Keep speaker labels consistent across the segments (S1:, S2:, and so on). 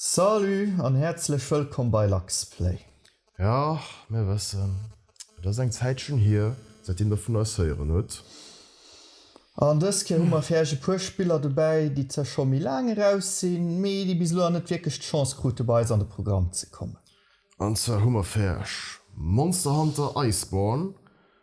S1: Salut an häerzlech wëllkomm bei Luxplay. Jo,
S2: mir wëssen, et ass eng Zäitchen hier, säitdeem der vun eis héieren huet.
S1: An dës Kéier hu mer fir Äech e puer Spiller dobäi, déi zwar scho méi laang eraus sinn, mee déi bis elo nach net wierklech d'Chance krute bei eis an de Programm ze kommen. An zwar hu
S2: mer fir Äech Monster Hunter Iceborne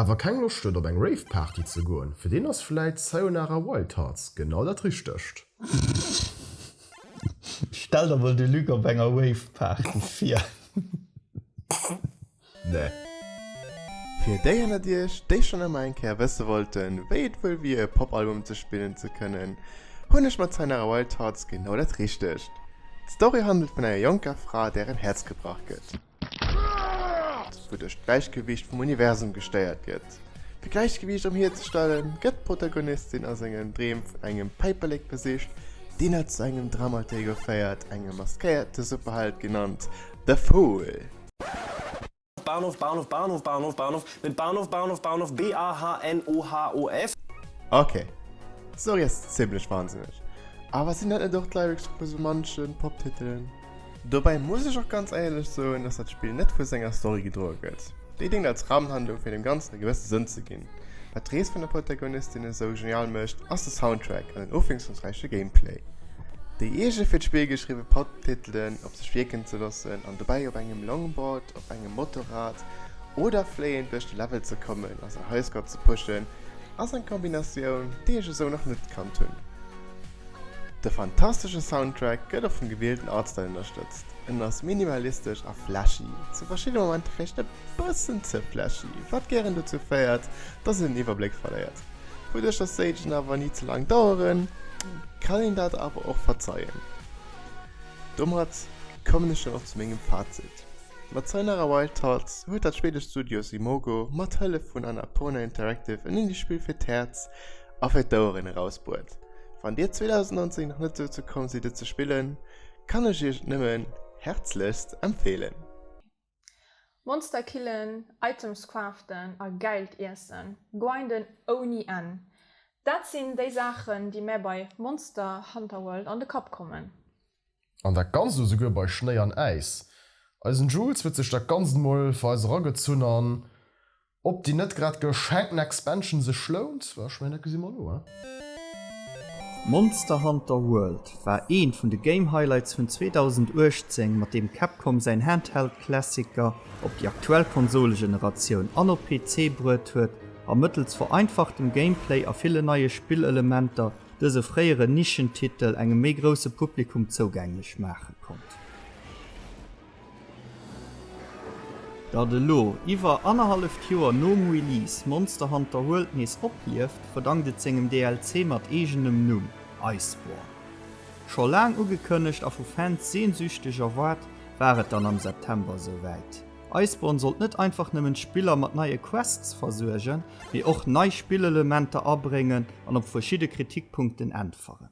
S2: awer keng Loscht huet op eng Rave-Party ze goen, fir deen ass vläit Sayonara Wild Hearts genau dat Richtegt.
S1: Stell der mol de Luc op enger Rave-Party vir.
S2: Nee.
S3: Fir déi ënnert iech, déi schonn ëmmer eng Kéier wësse wollten, wéi et wuel wier, e Pop-Album ze spillen ze kënnen, hunn ech mat Sayonara Wild Hearts genau dat Richtegt. D'Story handelt vun enger jonker Fra, där en Häerz gebrach gëtt. Wouduerch d'Gläichgewiicht vum Universum gestéiert gëtt. Fir d'Gläichgewiicht erhierzestellen, gëtt d'Protagonistin a sengen Dreem vun engem Päiperlek besicht, deen er zu engem Dramateego féiert, engem maskéierte Superheld genannt The Fool.
S4: Bahnhof Bahnhof Bahnhof Bahnhof Bahnhof Net Bahnhof Bahnhof Bahnhof BAHNOHOF. Ok,
S3: d'Story ass zimlech wansinneg, awer sinn dat net och d'Lyrics vu sou manche Pop-Titelen? Dobäi muss ech och ganz éierlech soen, dass dat Spill net vu senger Story gedroe gëtt. Déi déngt als Rahmenhandlung fir dem Ganzen e gewësse Sënn ze ginn. Wat d'Rees vun der Protagonistin esou genial mécht, ass de Soundtrack an den ofwiesslungsräiche Gameplay. Déi eege fir d'Spill geschriwwe Podtitelen op sech wierken ze loossen an dobäi op engem Longboard, op engem Motorrad oder fléiend duerch de Level ze kommen a säi Highscore ze pushen, ass eng Kombinatioun, déi ech esou nach net kannt hunn. De fantastesche Soundtrack gëtt och vum gewielten Artstyle ënnerstëtzt. En ass minimalistesch a flashy, zu verschiddene Momenter vläicht e bëssen ze flashy, wat gären dozou féiert, dass een den Iwwerbléck verléiert. Wouduerch dass d'Stagen awer ni ze laang daueren, kann een dat awer och verzeien. Domat kommen ech dann och zu mengem Fazit, Mat Sayonara Wild Thoughts huet dat schweedescht Studio Simogo mat Hëllef vun Annapurna Interactive en Indiespill fir d'Häerz, a fir d'Oueren erausbohrt. Wann dir 2019 nach net dozou komm sidd et ze spillen, kann ech iech et nëmmen härzlechst empfehlen.
S5: Monster killen, Items craften a geilt Iessen grinden ouni Enn, dat sinn déi Saachen déi mär bei Monster Hunter World an de Kapp kommen. An dat
S2: ganzt esouguer bei Schnéi an Äis. Eisen Jules huet sech dat ganzt mol fir eis eragezunn an. Ob déi net grad geschenkten Expansion sech lount? Well ech mengen, dat gesi mer elo, hein? Monster
S6: Hunter World war eent vun de Game Highlights vun 2018, mat deem Capcom säin Handheld Klassiker op déi aktuell Konsolegeneratioun an op PC bruet huet a mëttels vereinfachtem Gameplay a ville neie Spillelementer dëse fréieren Nischentitel engem méi grousse Publikum zougänglech maache konnt. Datt elo, iwwer annerhalleft Joer nom Release, Monster Hunter World nees oplieft, verdankt et sengem DLC mat eegenem Numm, Iceborne. Scho laang ugekënnegt a vu Fans sehnsüchteg erwaart, war et dann am September esou wäit. Iceborne sollt net einfach nëmmen d'Spiller mat neie Quests versuergen, mee och nei Spillelementer abréngen an op verschidde Kritikpunkten äntweren.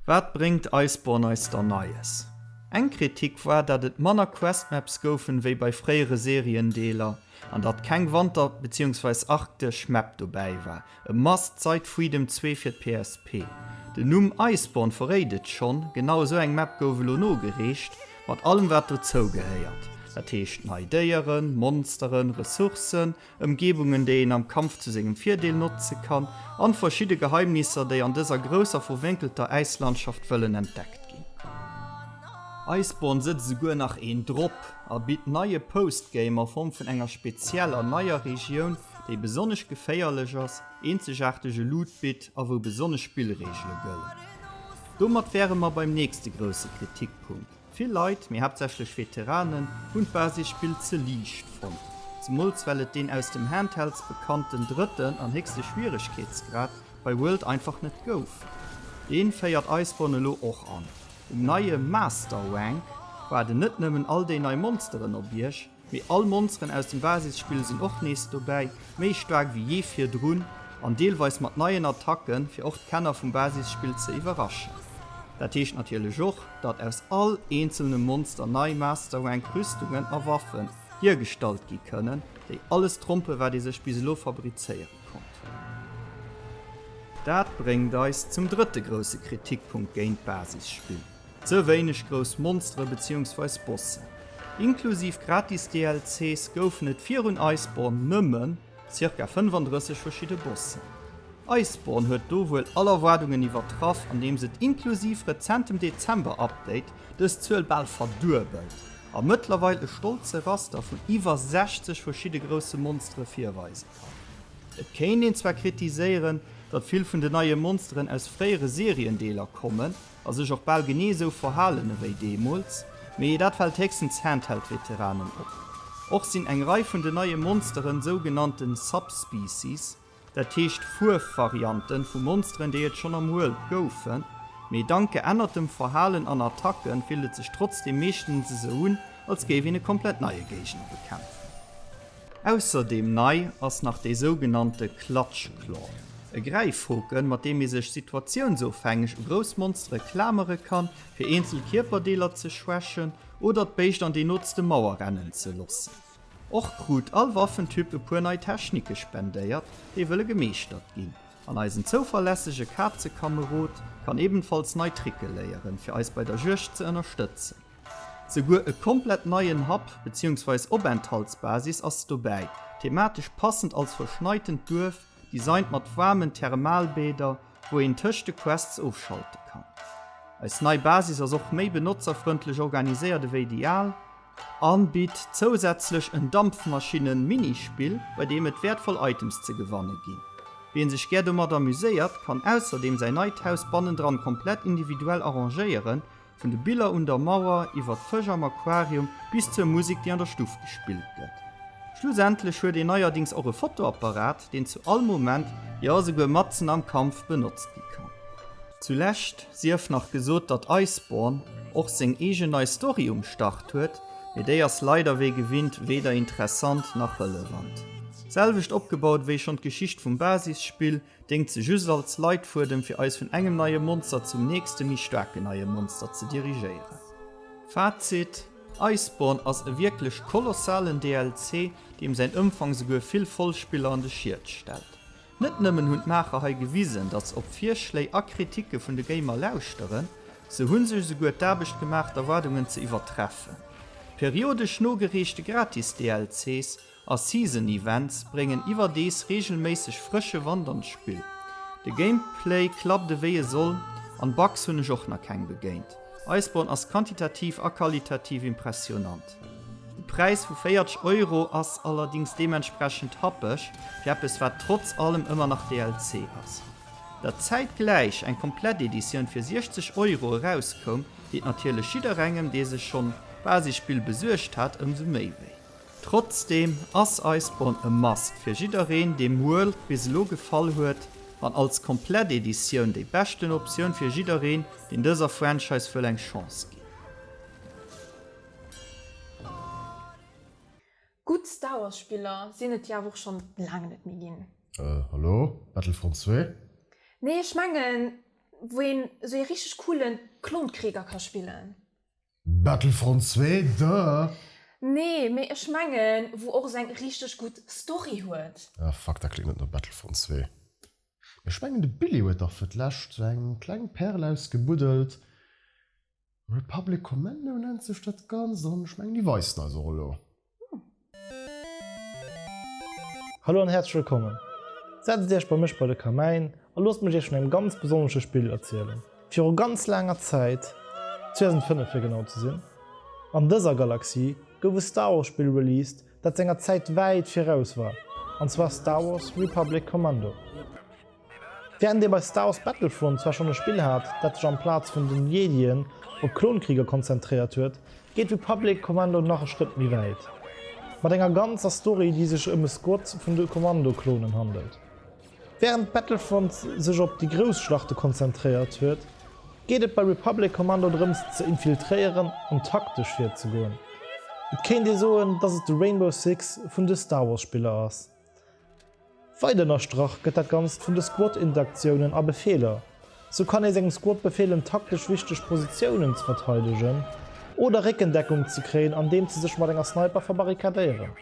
S6: Wat bréngt Iceborne eis da Neies? Eng Kritik war, dat et manner Questmaps goufen wéi bei fréiere Seriendeeler an dat keng Wanter beziehungsweise Arktesch Map dobäi war. E must seit Freedom 2 fir d'PSP. Den Numm Iceborne verréit et schonn, genau esou eng Map gouf elo nogereecht, mat allem wat dozou gehéiert, dat heescht nei Déieren, Monsteren, Ressourcen Ëmgebungen, déi een am Kampf zu sengem Virdeel notze kann, an verschidde Geheimnisser, déi an dëser grousser verwénkelter Äislandschaft wëllen entdeckt ginn. Iceborne sëtzt esouguer nach een drop a bitt neie Postgame a Form vun enger spezieller neier Regioun, déi besonnesch geféierlech ass, eenzegaartege Loot bitt a wou besonnesch Spillreegele gëllen. Domat wäre mer beim nächste grousse Kritikpunkt. Vill Leit, mee haaptsächlech Veteranen, hunn d'Basisspill ze liicht fonnt, zemools well et deen aus dem Handhelds bekannten drëtten an héchste Schwieregkeetsgrad bei World einfach net gouf. Dee féiert Iceborne elo och an. Um neie Master Rank waarden net nëmmen all déi nei Monsteren op Iech, Mee all Monsteren aus dem Basisspill sinn och nees dobäi, méi staark wéi jee virdrun an deelweis mat neien Attacken, fir och d'Kenner vum Basisspill ze iwwerraschen. Dat heescht natierlech och, datt aus all eenzelnem Monster nei Masterrank Rüstungen a Waffen hiergestallt gi kënnen, déi alles trompen, wat ee sech bis elo fabrizéiere konnt. Dat bréngt eis zum drëtte grousse Kritikpunkt géint d'Basisspill. Ze wéineg grouss Monstere beziehungsweise Bossen. Inklusiv gratis DLCs goufen et virun Iceborne nëmmen zirka 35 verschidde Bossen. Iceborne huet do wuel all Erwaardungen iwwertraff andeems et inklusiv rezentem Dezember Update dës Zuel bal verduebelt a mëttlerweil e stolze Raster vun iwwer 60 verschidde grousse Monstere virweise kann. Et kéint een zwar kritiséieren, datt vill vun de neie Monsteren aus fréiere Seriendeeler kommen, A sech och bal genee esou verhalen ewéi deemools, mee dat fält héchstens Handheld-Veteranen op. Och sinn eng Rei vun den neie Monsteren sougenannte Subspecies, dat heescht Fuervarianten vu Monsteren, déi et schonn am World goufen, mee dank geännertem Verhalen an Attacke fillt et sech trotzdeem meeschtens esou un, als géif een e komplett neie Géigner bekämpfen. Ausserdeem nei ass nach dee sougenannte Clutch Claw, e Gräifhoken, mat deem ee sech situatiounsofhängeg u grouss Monstere klamere kann, fir eenzel Kierperdeeler ze schwächen oder d'Béischt an déi nootste Mauer rennen ze loossen. Och krut all Waffentyp e puer nei Technike spendéiert, déi wëlle gemeeschtert ginn. An eisen zouverlässege Kazekamerod kann ebenfalls nei Tricke léieren, fir eis bei der Juegd ze ënnerstëtzen. Souguer e komplett neien Hub beziehungsweis Openthaltsbasis ass dobäi, thematesch passend als verschneitent Duerf, designt mat waarmen Thermalbäder, wou een tëscht de Quests ofschalte kann. Eis nei Basis ass och méi benotzerfrëndlech organiséiert ewéi déi al, an bitt zousätzlech en Dampfmaschinne-Minispill, bei deem et wäertvoll Items ze gewanne ginn. Wien sech gär domat amuséiert, kann ausserdeem säin neit Haus bannendran komplett individuell arrangéieren Vun de Biller un der Mauer, iwwer d'Fësch am Aquarium bis zur Musek, déi an der Stuff gespillt gëtt. Schlussendlech huet een neierdings och e Fotoapparat, deen zu all Moment, jo esouguer matzen am Kampf benotzt gi kann. Zu Lescht sief nach gesot, datt Iceborne och seng eegen nei Story um Start huet, mee déi ass leider wéi gewinnt weder interessant nach relevant. Selwecht opgebaut wéi schonn d'Geschicht vum Basisspill, Déngt se just als Leitfuedem fir eis vun engem neie Monster zum nächste méi staarken neie Monster ze dirigéieren. Fazit, Iceborne ass e wierklech kolossalen DLC, deem säin Ëmfang souguer vill Vollspiller an de Schiet stellt. Net nëmmen hunn d'Maacher hei gewisen, datt se op Virschléi a Kritike vun de Gamer lauschteren, se hu sech esouguer d'Aarbecht gemaach d'Erwaardungen ze iwwertreffen. Periodesch nogereechte Gratis-DLCs A Season Events bréngen iwwerdees reegelméisseg frësche Wand an d'Spill. De Gameplay klappt ewéi e soll, an Bugs hunn ech och nach keng begéint. Iceborne ass quantitativ a qualitativ impressionant. De Präis vu 40 Euro ass allerdings deementsprechend happeg fir eppes wat trotz allem ëmmer nach DLC ass. Dat zäitgläich eng komplett Editioun fir 60 Euro erauskoum, deet natierlech jidderengem dee sech schonn d'Basisspill besuergt hat ëmsou méi wéi. Trotzdem ass eis Bonne a Must fir jiddereen dee Muel bis elo gefall huet an als komplett Editioun déi beschten Optioun fir jiddereen deen dëser Franchise wëll eng Chance ginn.
S5: Gutt Star Wars Spiller sinn et jo awer och schonn laang net méi ginn. Hallo,
S2: Battlefront zwee? Nee ech
S5: mengen wou een esou ee richteg coolen Klonkrieger ka spillen. Battlefront
S2: 2, duh. Nee, mee
S5: ech mengen wou och seng richteg gudd Story huet. Ah fuck, dat kléngt net no
S2: Battlefront 2. Mee ech mengen de Billy huet dach fir d'lescht sou eng kleng Perl ausgebuddelt, Republic Commando nennt sech dat ganzt an ech mengen déi weisen eis och elo.
S7: Hallo an häerzlech wëllkommen! Setzt Iech bei mech bei de Kamäin a loosst mech Iech vun engem ganz besonnesche Spill erzielen. Viru ganz laanger Zäit, 2005 fir genau ze sinn, an dëser Galaxie gouf e Star Wars Spill released, dat senger Zäit wäit viraus war, an zwar Star Wars Republic Commando. Wärend ee bei Star Wars Battlefront zwar schonn e Spill hat, dat sech amplaz vun den Jedien op Klonkriger konzentréiert huet, geet Republic Commando nach e Schrëtt méi wäit. Mat enger ganzer Story, déi sech ëm e Squad vun de Kommando-Klonen handelt. Wärend Battlefront sech op déi grouss Schlachte konzentréiert huet, geet et bei Republic Commando drëms ze infiltréieren an taktesch virzegoen. Et kéint ee soen, dass et de Rainbow Six vun de Star Wars Spiller ass. Weider ënnerstrach gëtt dat Ganzt vun de Squad-Interaktiounen a Befeeler. Sou kann ee sengem Squad befehlen, taktesch wichteg Positiounen ze verteidegen oder Réckendeckung ze kréien, andeems se sech mat enger Sniper verbarrikadéieren.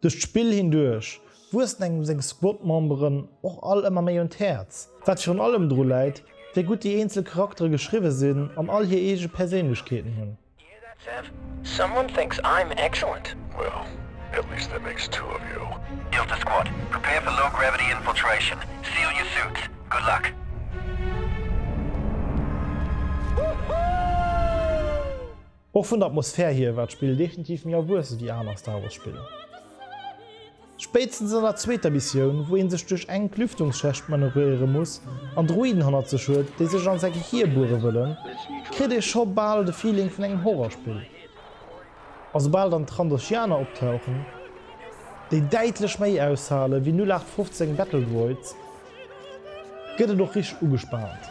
S7: Duerch d'Spill hinduerch wuessen engem seng Squad-Memberen och all ëmmer méi un d'Häerz, wat virun allem dru läit, wéi gutt déi eenzel Charaktere geschriwwe sinn an all hir eege Perséinlechkeeten hunn. Och vun der Atmosphär hier war d'Spill definitiv méi erwuesse wéi aner Star Wars Spiller. Spéitstens an der zweeter Missioun, wou een sech duerch enk Lüftungsschächt manövréieren muss an Droiden hannert sech huet, déi sech an säi Gehir buere wëllen, kritt ee scho bal de Feeling vun engem Horrorspill. A soubal dann d'Trandoshianer optauchen, déi däitlech méi aushale wéi 0815 Battledroids, gëtt et och richteg ugespaant.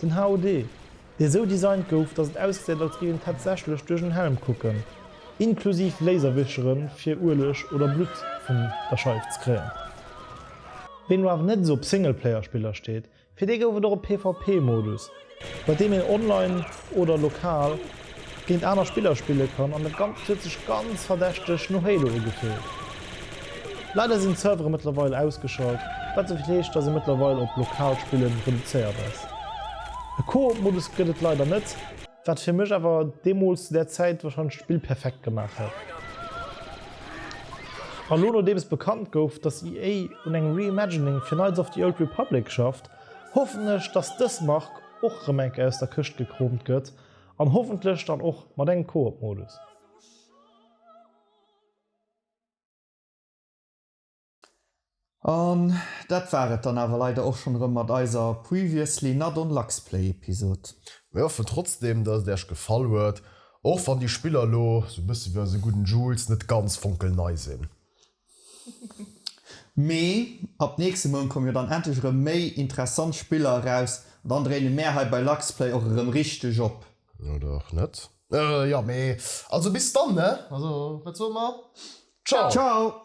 S7: Den HUD, dee esou designt gouf, datt et ausgesäit als géif een tatsächlech duerch en Helm kucken, inklusiv Laserwicheren fir Ueleg oder Blutt vun der Scheif ze kréien. Ween elo awer net esou op Singleplayer-Spiller steet, fir dee gouf et och e PvP-Modus, bei deem een online oder lokal géint aner Spiller spille kann an et Ganzt huet sech ganz verdächteg no Halo ugefillt. Leider sinn d'Servere mëttlerweil ausgeschalt, wat souvill heescht dass ee mëttlerweil op lokal Spillen reduzéiert ass. E Koop Modus gëtt et leider net, wat fir mech awer deemools zu där Zäit warscheinlech d'Spill perfekt gemaach hätt. A lo nodeems bekannt gouf dass EA un engem Reimagining fir Knights of the Old Republic schafft, hoffen ech dass dës Mark och rëm eng Kéier aus der Këscht gekroomt gëtt, An hoffentlech dann och mat engem Koop Modus.
S1: An dat war et dann awer leider och schon erëm mat eiser Previously Not On Luxplay Episode. Mir hoffen
S2: trotzdem dass et äerch gefall huet, och wann déi Spiller lo sou bësse wéi eise gudden Jules net ganz fonkelnei sinn.
S1: Mee ab nächste Mount komme jo dann endlech erëm méi interessant Spiller eraus an dann dréine mär hei bei Luxplay och erëm richteg op. Oder och net.
S2: Jo mee also bis dann ne. Also wat soe mer? Ciao! Ciao!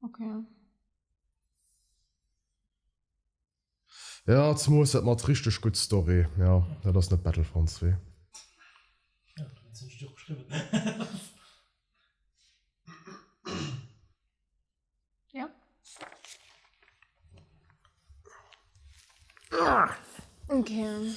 S5: Okay.
S2: Ja, zumols dat mat richteg gutt Story. Ja, dat ass net Battlefront 2. Ja, du hues
S5: nämlech och geschriwwen. Ja. Okay.